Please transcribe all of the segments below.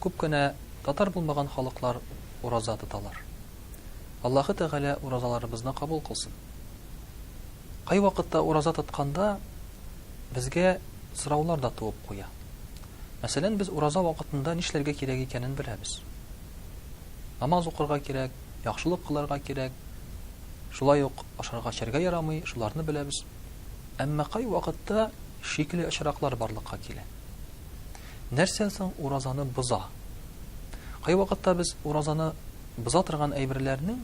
Күп кенә татар булмаган халыклар ураза тоталар. Аллаһы Тәгалә уразаларыбызны кабул кылсын. Кайвакытта ураза тотканда безгә сораулар да туып куя. Мәсәлән, без ураза вакытында нишләргә кирәк икәнен беләбез. Намаз укырга кирәк, яхшылык кылырга кирәк, шулай ук ашарга эчәргә ярамый, шуларны беләбез. Әмма кайвакытта шикле очраклар барлыкка килә. Нәрсә соң уразаны боза? Кайвакытта без уразаны боза торган әйберләрнең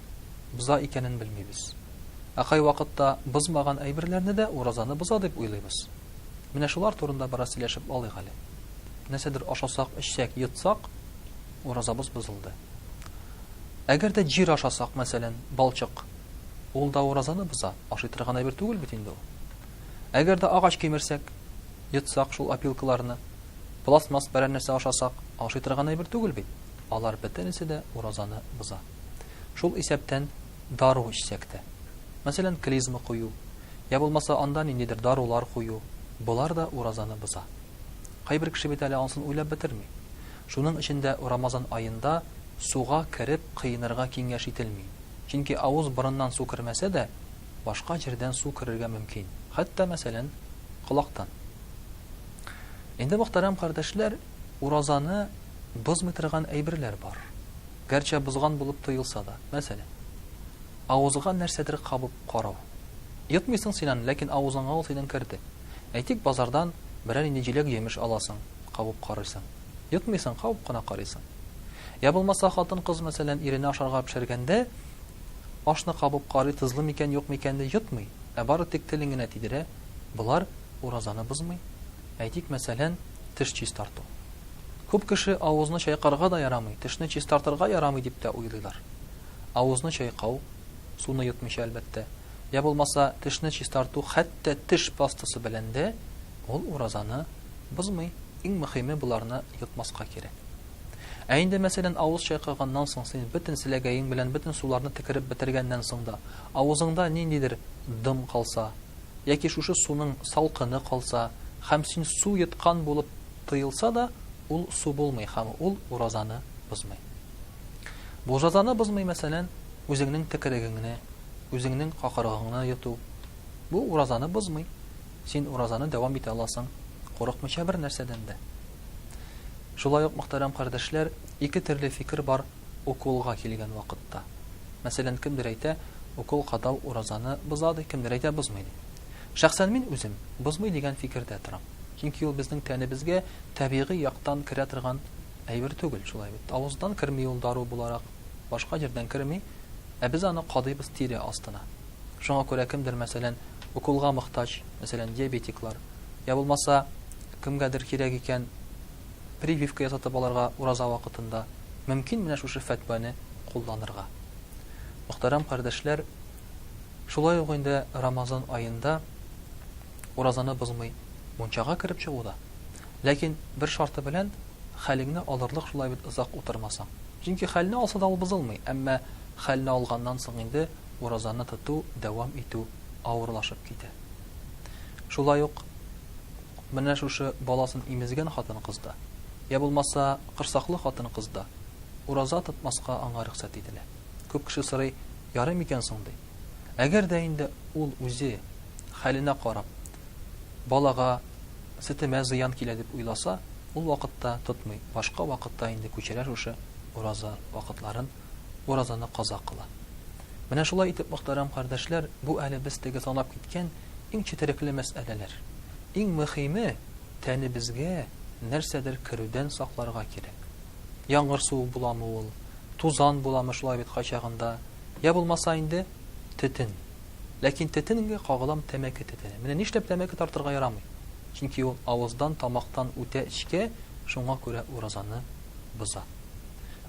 боза икәнен белмибез. Ә кайвакытта бозмаган әйберләрне дә уразаны боза дип уйлыйбыз. Менә шулар турында бераз сөйләшеп алыйк әле. Нәрсәдер ашасак, эчсәк, йотсак, уразабыз бозылды. Әгәр дә җир ашасак, мәсәлән, балчык, ул да уразаны боза, ашый торган әйбер түгел бит инде ул. Әгәр дә агач кимерсәк, йотсак шул опилкаларны, пластмасс берәр нәрсә ашасак, ашый торган әйбер түгел бит. Алар бөтенесе дә уразаны боза. Шул исәптән дару эчсәк тә. Мәсәлән, клизма кую, йә булмаса анда ниндидер дарулар кую, болар да уразаны боза. Кайбер кеше бит әле ансын уйлап бетерми. Шуның өчен дә Рамазан аенда суга кереп кыенырга киңәш ителми. Чөнки авыз-борыннан су кермәсә дә, башка җирдән су керергә мөмкин, хәтта, мәсәлән, колактан. Инде, мөхтәрәм кардәшләр, уразаны бозмый торган әйберләр бар. Гәрчә бозган булып тоелса да. Мәсәлән, авызга нәрсәдер кабып карау. Йотмыйсың син аны, ләкин авызыңа ул синең керде. Әйтик, базардан берәр нинди җиләк-җимеш аласың, кабып карыйсың. Йотмыйсың, кабып кына карыйсың. Йә булмаса, хатын-кыз, мәсәлән, иренә ашарга пешергәндә, Ашны кабып карый, тозлы микән-юкмы икәнне йотмый, ә бары тик телен генә тидерә, болар уразаны бозмый. Әйтик, мәсәлән, теш чистарту. Күп кеше авызны чайкарга да ярамый, тешне чистартырга ярамый дип тә уйлыйлар. Авызны чайкау, суны йотмыйча, әлбәттә, йә булмаса тешне чистарту хәтта теш пастасы белән дә, ул уразаны бозмый. Иң мөхиме, боларны йотмаска кирәк. Ә инде, мәсәлән, авыз чайкаганнан соң, син бөтен селәгәең белән бөтен суларны текереп бетергәннән соң да, авызыңда ниндидер дым калса, яки шушы суның салкыны калса, хәм син су йоткан булып тоелса да, ул су булмый хәм ул уразаны бозмый. Бу җазаны бозмый, мәсәлән, үзеңнең текерегеңне, үзеңнең какырыгыңны йоту. Бу уразаны бозмый. Син уразаны дәвам итә аласың, курыкмыйча бер нәрсәдән дә. Шулай ук, мөхтәрәм кардәшләр, ике төрле фикер бар уколга килгән вакытта. Мәсәлән, кемдер әйтә, укол кадау уразаны боза, ди, кемдер әйтә, бозмый, ди. Шәхсән мин үзем бозмый дигән фикердә торам. Чөнки ул безнең тәнебезгә табигый яктан керә торган әйбер түгел, шулай бит. Авыздан керми ул дару буларак, башка җирдән керми, ә без аны кадыйбыз тире астына. Шуңа күрә кемдер, мәсәлән, уколга мохтаҗ, мәсәлән, диабетиклар, я булмаса, кемгәдер кирәк икән, прививка ясатып алырга ураза вакытында, мөмкин, менә шушы фәтвәне кулланырга. Мөхтәрәм кардәшләр, шулай ук инде Рамазан аенда уразаны бозмый мунчага кереп чыгу да. Ләкин бер шарты белән, хәлеңне алырлык шулай бит озак утырмасаң. Чөнки хәлне алса да ул бозылмый, әмма хәлне алганнан соң инде, уразаны тоту, дәвам итү авырлашып китә. Шулай ук менә шушы баласын имезгән хатын-кыз да, йә булмаса, корсаклы хатын-кыз да ураза тотмаска аңа рөхсәт ителә. Күп кеше сорый, ярый микән соң, ди. Әгәр дә инде ул үзе, хәленә карап, балага, сөтемә зыян килә дип уйласа, ул вакытта тотмый, башка вакытта инде күчерә шушы ураза вакытларын. уразаны каза кыла. Менә шулай итеп, мөхтәрәм кардәшләр, бу әле без теге санап киткән иң четерекле мәсьәләләр. Иң мөхиме, тәнебезгә нәрсәдер керүдән сакларга кирәк. Яңгыр суы буламы ул, тузан буламы шулай бит кайчагында, йә булмаса инде, төтен. Ләкин төтенгә кагылам тәмәке төтене. Менә нишләп тәмәке тартырга ярамый? Чөнки ул авыздан, тамактан үтә эчкә, шуңа күрә уразаны боза.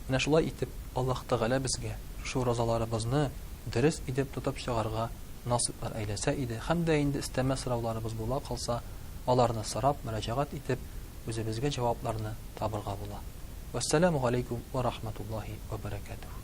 Менә шулай итеп Аллаһ Тәгалә безгә шушы уразаларыбызны дөрес идеп тотып чыгарга насыйплар әйләсә иде һәм дә инде өстәмә сорауларыбыз була калса, аларны сорап, мөрәҗәгать итеп, үзебезгә җавапларны табырга була. Вәссәламү галәйкүм вә рахматуллаһи вә бәрәкәтүһү.